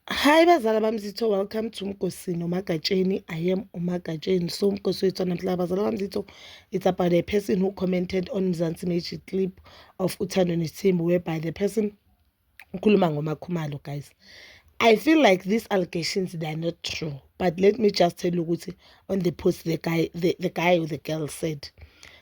Hi bazala bami zitho welcome to Mgosi noMagatsheni I am uMagatsheni so Mgosi wethu namhla bazala bami zitho it's about a person who commented on Mzansi Magic clip of Uthando Nesithembu whereby the person ukhuluma ngoMakhumalo guys I feel like these allegations they are not true but let me just tell you ukuthi on the post the guy the, the guy or the girl said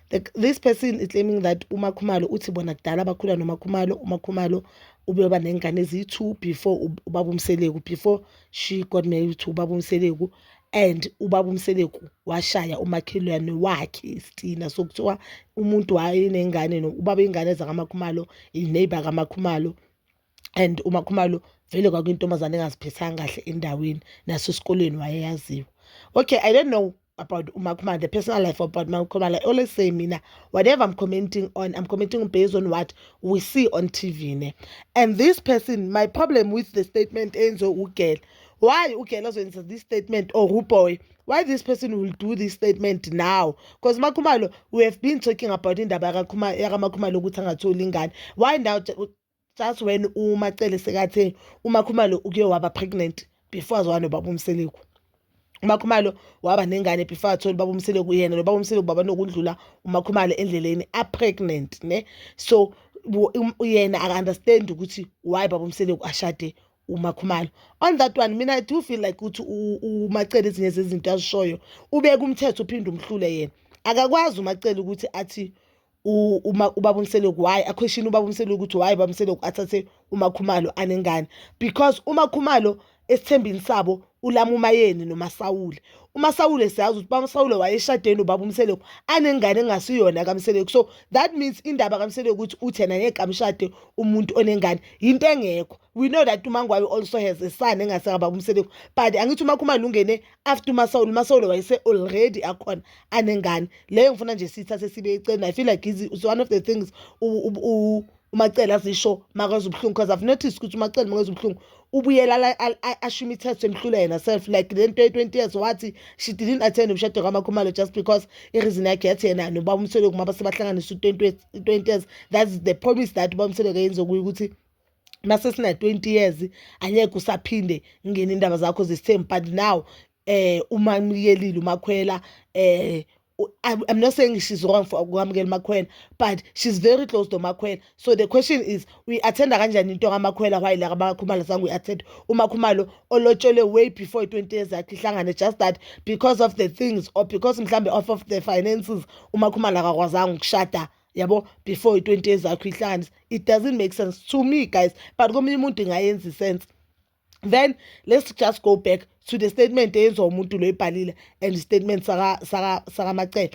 the, this person is claiming that umakhumalo uthi bona kudala bakhula nomakhumalo umakhumalo ubeyoba nengane eziyi-two before ubaba umseleku before she got married to ubaba umseleku and ubaba umseleku washaya umakhelwane wakhe isitina sokuthiwa umuntu wayenengane ubaba ingane zakamakhumalo ineighbor kamakhumalo and umakhumalo vele kwakuyintombazane engaziphethanga kahle endaweni nasesikoleni wayeyaziwa okay i don't know about umakhumalo the personal life about umakhumalo i always say mina whatever i'm commenting on i'm commenting based on what we see on tv ne and this person my problem with the statement enziwe ugel why ugel azoyenza this statement or uboy why this person will do this statement now because makhumalo we have been talking about indaba yakamakhumalo ukuthi angatholi ingane why now just when umacele sekathe umakhumalo uke waba pregnant before azwana nobaba umseleku umakhumalo waba nengane before athole ubaba umseleku uyena nobaba umseleku baba nokundlula umakhumalo endleleni apregnant ne so um, yena aka-understand ukuthi why baba umseleku ashade umakhumalo on that one mina i do feel like ukuthi umacele ezinye zezinto azishoyo ubeka umthetho uphinde umhlule yena akakwazi umacele ukuthi athi uma ubaba umseloko why akhweshini ubaba umseloko ukuthi why ubaba umseloko athathe umakhumalo anengane because umakhumalo esithembini sabo ulama umayeni nomasawule umasawule siyazi ukuthi bamasawule wayeshadeni ubaba umseleko anengane engasiyona kamseleko so that means indaba kamseleko ukuthi uthena ngeke amshade umuntu onengane yinto engekho we know that umangwayo also has a son engaseka baba umseleko but angithi umakhumalo ungene after umasawule umasawule wayese already akhona anengane leyo ngifuna nje sithathe sibe eceni i feel like is one of the things umacele azisho makwenza ubuhlungu because i've noticed ukuthi umacele makwenza ubuhlungu ubuyela asho imithetho emhlula yena self like le nto ye-20 years wathi she didn't attend umshado kamakhumalo just because ireason yakhe yathi yena noba umsweleko uma basebahlanganisa u-20 years that's the promise that uba umsweleko yenze kuyo ukuthi mase sina 20 years angeke usaphinde ngene indaba zakho zesithembu but now eh uma ngiyelela umakhwela eh I'm not saying she's wrong for ukwamukela umakhwela but she's very close to makhwela so the question is uyi-athenda kanjani into kamakhwela why la kabakhumalo zange uyi-athenda umakhumalo olotshelwe way before i-twenty years yakhe ihlangane just that because of the things or because mhlawumbe off of the finances umakhumalo akakwazanga ukushada yabo before i-20 years yakho ihlanganisa it doesn't make sense to me guys but komunye umuntu ingayenza isense then let's just go back to the statement eyenziwa umuntu lo ebhalile and statement sakamacele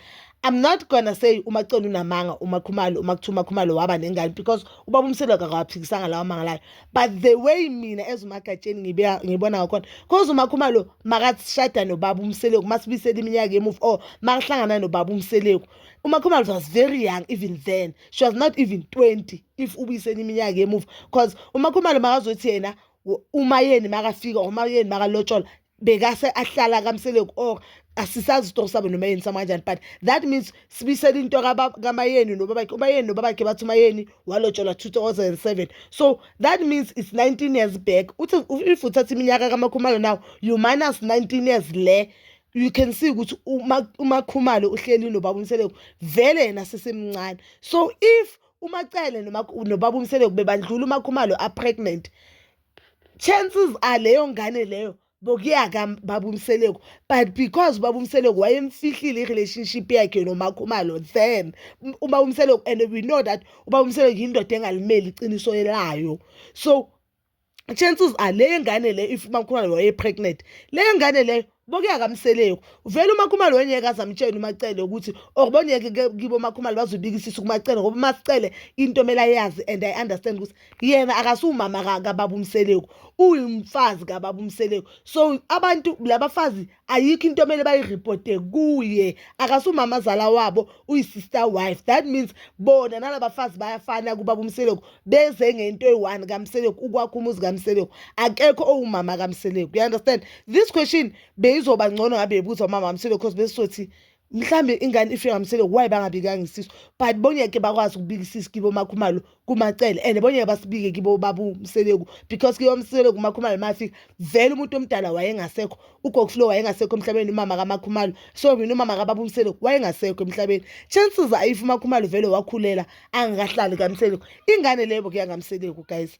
i'm not gonna say umacele unamanga umakhumalo umakuthiwa umakhumalo waba nengane because ubaba umselo kakawaphikisanga lawa manga layo but the way mina as umagatsheni ngibona ngakhona cause umakhumalo makashada nobaba umseleku masibisela iminyaka emuva or makahlangana nobaba umseleku umakhumalo was very young even then she was not even 20 if ubuyiseni iminyaka emuva because umakhumalo makazothi yena uma yeni makafika uma yeni makalotshola bekase ahlala kamseleku or asisazi isitoko sabo noma yeni sama kanjani but that means sibisele into kamayeni nobabakhe umayeni nobabakhe bathi umayeni walotsholwa 2007 so that means it's 19 years back uthi if uthatha iminyaka kamakhumalo now you minus 19 years le you can see ukuthi umakhumalo uhleli nobaba umseleko vele yena sesemncane so if umacele nobaba umseleko bebandlula umakhumalo apregnant chances are leyo ngane leyo bokuya kababa umseleko but because ubaba umseleko wayemfihlile i-relationship yakhe nomakhumalo then ubaba umseleko and we know that ubaba umseleko yindoda engalimeli iqiniso elayo so chances are le ngane le if umakhumalo waye pregnant le ngane leyo boke akamseleko vele umakhumalo wengeke azamtshela umacele ukuthi or bongeke kibo makhumalo bazobikisisa kumacele ngoba masicele into mela yazi and i understand ukuthi yena akasumama kababa umseleko uyimfazi kababa umseleko so abantu labafazi ayikho into omele bayiripote kuye akasumama azala wabo uyisister wife that means bona nalabafazi bayafana kubaba umseleku beze ngento eyi-one kamseleku ukwakho umuzi kamseleku akekho owumama kamseleku you understand this question beyizoba ngcono ngabe yebuzwa umama kamseleku because besizothi mhlambe ingane ifika ngamsele why bangabikanga isisu but bongeke bakwazi ukubika isisu kibo makhumalo kumacele and bongeke basibike kibo babu mseleku because kibo mseleku makhumalo mafika vele umuntu omdala wayengasekho ugokflow wayengasekho emhlabeni umama kamakhumalo so mina umama kababu mseleku wayengasekho emhlabeni chances ayifu makhumalo vele wakhulela angakahlali kamseleku ingane lebo kuya ngamseleku guys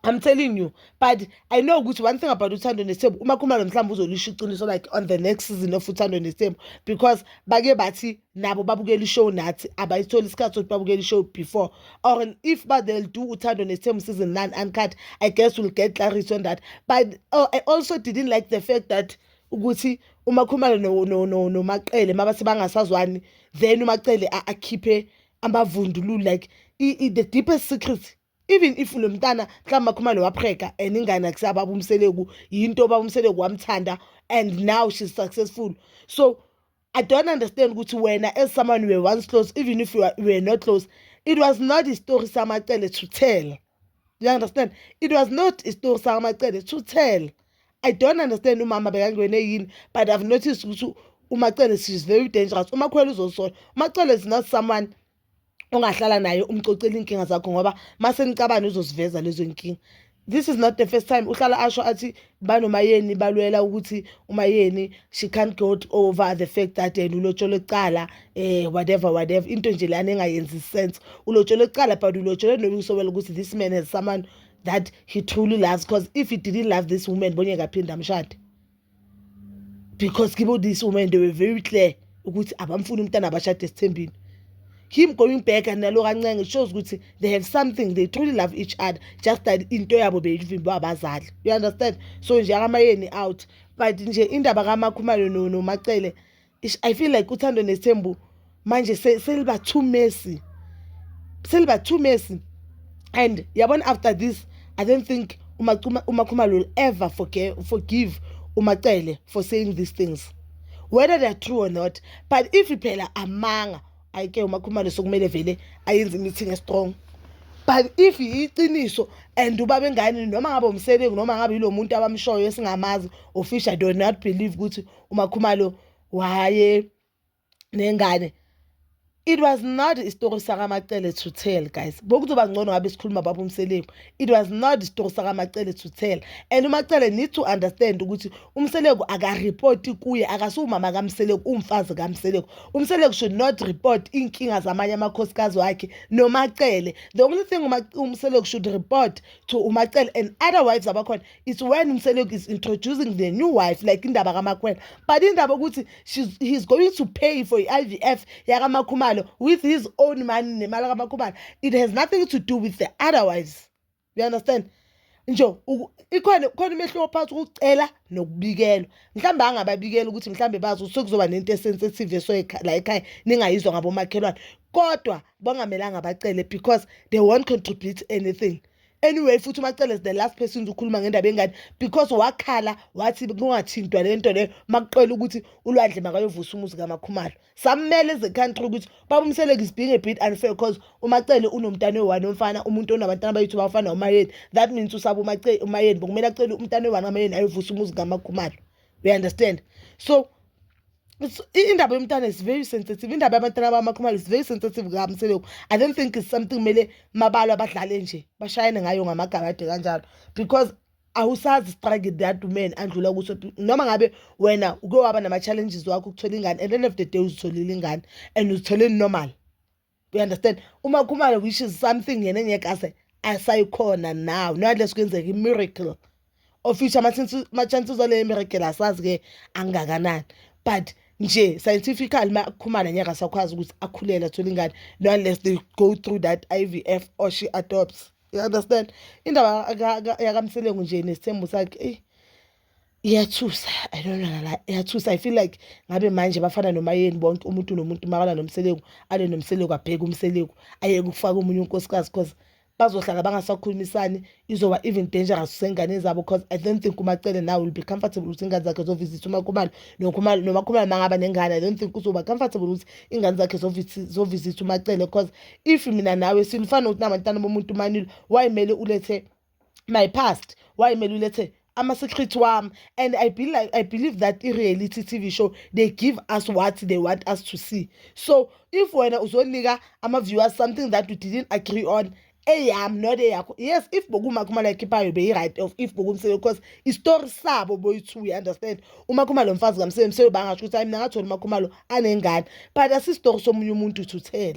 I'm telling you but I know ukuthi one thing about uthando nesithembu uma khumalo mhlawumbe uzolisho iqiniso like on the next season of uthando nesithembu because bake bathi nabo babukela ishow nathi abayitholi isikhathi sokuthi babukela ishow before or if but they'll do uthando nesithembu season 9 uncut I guess we'll get clarity on that but oh, I also didn't like the fact that ukuthi umakhumalo nomaqele mabathi bangasazwani then umacele akhiphe amavundululu like the deepest secret even if lo mntana mhlawumbe akhumane wapheka and ingane akusaba abumseleku yinto babumseleku wamthanda and now she's successful so i don't understand ukuthi wena as someone were once close even if you were, you were not close it was not a story samacele to tell you understand it was not a story samacele to tell i don't understand umama bekangene yini but i've noticed ukuthi umacele she's very dangerous umakhwela uzosola umacele is not someone ongahlala naye umcocela inkinga zakho ngoba mase nicabana uzoziveza lezo nkinga this is not the first time uhlala asho athi banomayeni balwela ukuthi umayeni she can't go over the fact that yena ulotshole kuqala eh whatever whatever into nje lana engayenzi sense ulotshole kuqala but ulotshole nokusobela ukuthi this man has someone that he truly loves because if he didn't love this woman bonye kaphinde amshade because kibo this woman they were very clear ukuthi abamfuni umntana abashade esithembini him going back and nalo kancenge shows ukuthi they have something they truly love each other just that into yabo beyivimbe abazali you understand so nje akamayeni out but nje indaba kamakhumalo nomacele I feel like uthando nesithembu manje seliba too messy seliba too messy and yabona after this i don't think umakhumalo will ever forgive, forgive umacele for saying these things whether they are true or not but if phela amanga ayike umakhumalo sokumele vele ayenze imithi ngestrong but if yiqiniso and ubaba engane noma ngabe umsebenzi noma ngabe yilo muntu abamshoyo esingamazi ofisha do not believe ukuthi umakhumalo waye nengane it was not isitori sakamacele to tell guys bokuzoba ngcono ngabe sikhuluma baba umseleku it was not isitori sakamacele to tell and umacele need to understand ukuthi umseleku akarepoti kuye akasiwumama kamseleku umfazi kamseleku umseleku should not report iy'nkinga zamanye amakhosikazi wakhe nomacele the only thing umseleku should report to umacele and other wives abakhona it's when umseleko is introducing the new wife like indaba kamakwena but indaba ukuthi he's going to pay for i-ivf yakamakhumalo with his own money nemali kamakhumalo it has nothing to do with the otherwise you understand nje ikhona khona umehluko phakathi ukucela nokubikelwa mhlawumbe angababikela ukuthi mhlawumbe bazi ukuthi sekuzoba nento esensitive esoyikhala ekhaya ningayizwa ngabomakhelwane kodwa bangamelanga bacele because they won't contribute anything anyway futhi umacele is the last person ukhuluma ngendaba engane because wakhala wathi kungathintwa le nto leyo makuqela ukuthi ulwandle makayovusa umuzi kamakhumalo sammele as a country ukuthi babumseleke is being a bit unfair because umacele unomntana oyi-one omfana umuntu onabantana abayithi bafana umayeni that means usaba umayeni bokumele acele umntana oyi-one kamayeni ayovusa umuzi kamakhumalo we understand so indaba yomntana is very sensitive indaba yabantwana bamakhumalo is very sensitive kami selokhu i don't think is something kumele mabalo abadlale nje bashayane ngayo ngamagabade kanjalo because awusazi strike that man andlula kuso noma ngabe wena uke waba nama-challenges wakho ukuthola ingane at the end of the day uzitholile ingane and uzithole normal you understand uma khumalo which is something yena engeke ase asayikhona now nalesi kwenzeka i-miracle of which ama-chances aleyo miracle asazi-ke angakanani but nje scientifically uma khumana ngeke asakwazi ukuthi akhulele athole ingane no unless they go through that i v f or she adopts you understand indaba yakamselengu nje nesithembu sakhe eyi iyathusa i don't know la iyathusa i feel like ngabe manje bafana noma yeni bonke umuntu nomuntu makala nomseleku ale nomseleku abheke umseleku ayeke ukufaka umunye unkosikazi because bazohlala bangasakhulumisani izoba even dangerous usengane zabo because i don't think umacele now will be comfortable ukuthi ingane zakhe zovisitha umakhumalo nomakhumalo mangaba nengane i don't think uzoba comfortable ukuthi ingane zakhe zovisitha umacele because if mina nawe silufana ukuthi namantana bomuntu manilo wayimele ulethe my past wayimele ulethe ama-secret wami and I, be like, i believe that i-reality tv show they give us what they want us to see so if wena uzonika ama-viewers something that you didn't agree on eyami not eyakho yes if bokuma khumalo ayikhiphayo beyi-right of if bokumsebe because isitori sabo boyi-two you understand uma khumalo mfazi kamsebe msebe bangasho ukuthi hayi mina ngatholi umakhumalo anengane but asisitori somunye umuntu to tell